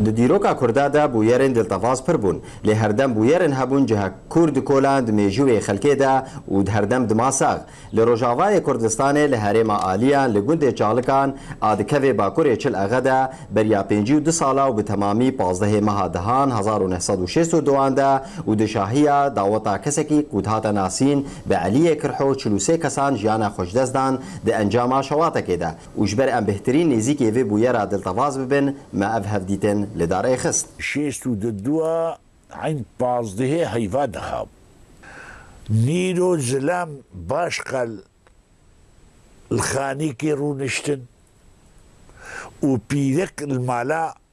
Di dîroka Kurda de bûyerên diltevaz pir bûn. Lê herdem bûyerên hebûn ciha kûr dikolan di mêjûyê xelkê de û herdem dima sax. Li rojavayê Kurdistanê li herêma Aliyan li gundê Çalikan a dikeve bakurê Çil Exe de beriya pêncî û du sala û bi temamî pazdehê meha Dihan hezar û neh sed û şêst û duan de û di şahiya daweta kesekî ku dihate nasîn bi Eliyê Kirho çil û sê kesan jiyana xwejdestdan di encama şewatekê de. Û ji ber em bêhtirîn nêzîkê vê bûyera diltevaz bibin, me ev hevdîtin li dar ê xist. Şêst û di dua eyn pazdehê heyva dixab. Nîro zilam baş qel li xanîkê rûniştin û pîrik li mala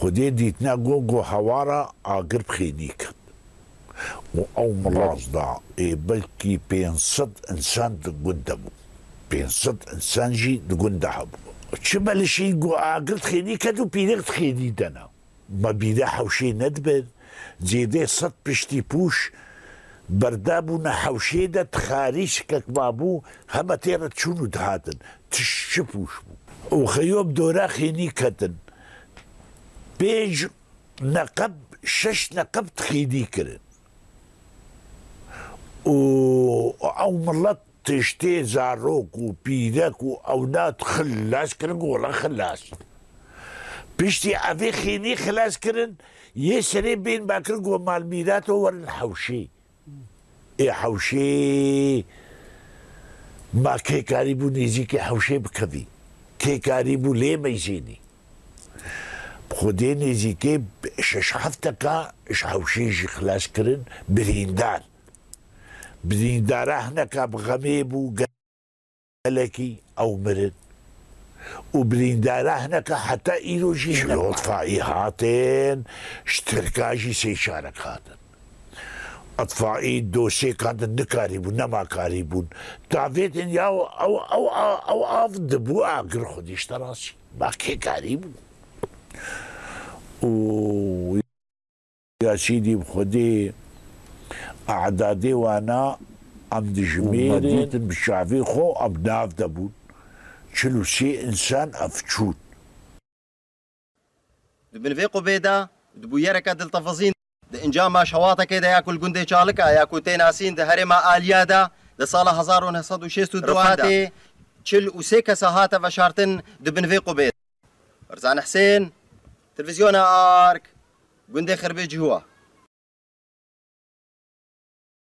Xwedê dîtine got ku hewara agir bi xênî ket û ew milas da. Ê belkî pênc sed însan di gund de bû. Pênc sed însan jî di gund de hebû. Çi belişî got agir di xênî ket û pîrek di xênî de ne. Me bîrê hewşê nedibe Zêdê sed piştî pûş berde bûne hewşê de tixarî şikek mabû, heme tê re çûn û dihatin. Tişt çi pûş bû? Oxeyo bi dore xênî ketin. Pênc neqeb, şeş neqeb tixênî kirin. Û ew milet Tiştê zarok û pîrek û ewlad xilas kirin ku wela xilas in. Piştî evê xênî xilas kirin, yê serê bên vekirin ku malmîrato werin hewşê. Ê hewşê ma kê karîbû nêzîkê hewşê bikevî, kê karîbû lê meyzênî. Bi xwedê nêzîkê şeş hefteka ji hewşê jî xilas kirin birîndar. Birîndara hineka bi xemê bû gelekî ew mirin û birîndara hineka heta îro jî hinek hatin. Ji îtfaî hatin, ji tirka jî sê çarek hatin. Îtfaî dosêkan din nikarîbûn, nema karîbûn. Tavê din ya ew av dibû agir xwedî ji te re çî. Ma kê karîbû. Û. Ya çîdî bi xwedê e'dadê wan a em dijimêrin. Dîtin bi çavê xwe em nav de bûn çil û sê însan ev çûn. Di bin vê qubê de di bûyereke diltefizîn de. Di encama şewatekê de ya ku li gundê Çalika ya ku tê nasîn di herêma Aliyê de di sala hezar û neh sed û şêst û du de rûpetê çil û sê kesa hate veşartin di bin vê qubê de. Berzan Husên, Televîzyona Ark, Gundê Xirbê Cihuwa.